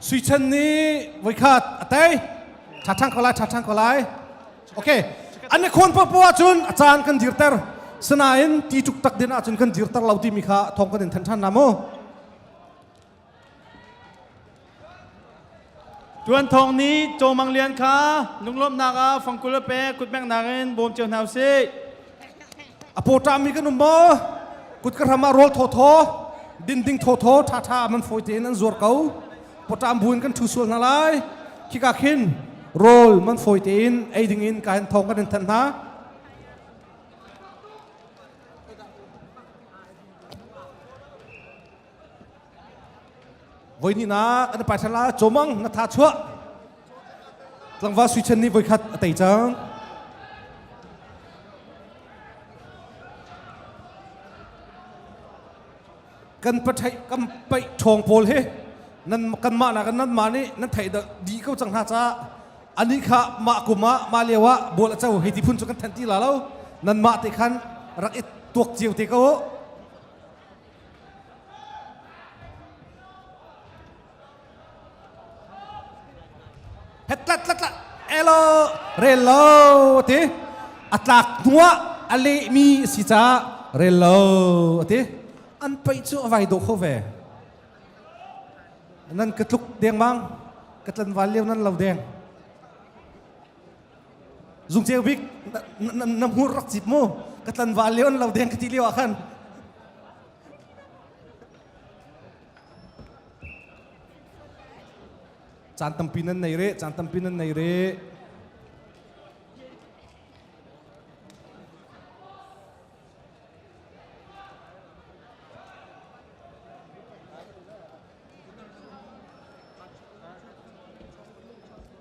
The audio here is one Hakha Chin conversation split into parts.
Sui Chen nih voikhat a tei. Tha chang ko lai, tha chang ko lai. Okay. An i khawn popo ahcun a caan kan dirter. Sinain ti tuk tak din ahcun kan dirter lo timi kha thawng kan in than than la mu. Tuan thawng ni Cawmang Lian kha lunglawmhnak ah fangkul a pek kutmengnak in bawm cio hna usih. a pawṭami kan um maw kut ka ram ah rawl thawthaw dinding thawthaw ṭhaṭha man fawi tein an zuar ko pawṭam buin kan ṭhu sual hna lai khika khin rawl man fawi tein ei ding in ka hin thawng kan in thanh hna Voihninak an paithar la cawmang na tha chuah tlangva suichan nih voikhat a tei cang kan pathai kan paih ṭhawng pawl he nan kanmah nak nan mah nih nan thei di ko cang hna ca ani kha mah kum ah mah lio ah bol a co hei ti phun cu kan than ti la lo nan mah te khan rak i tuak cio te ko tlat tlat tlat elo rel lo ti a tlak hnuah a lehmi si ca rel lo ti an pei cu a vai dawh kho ve nan ka tluk dengmang ka tlanval leo nan lo deng Zung Ceu Bik na, na, hmur rak cip mu ka tlan va leon lo deng ka ti lio ah khan caan tampi nan nei re caan tampi nan nei re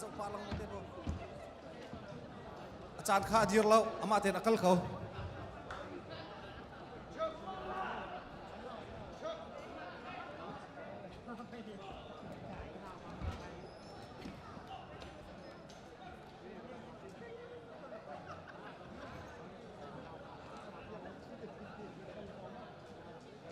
Zohpa lang lo te nuam ku. A caan kha a dir lo, amah tein a kal ko.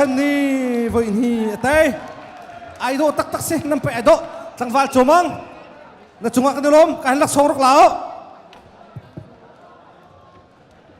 chan ni voi ni a tai ai do tak tak se nam pe do tlangval chomang Na cungah kan i lawm. Ka han laksawng rak la u.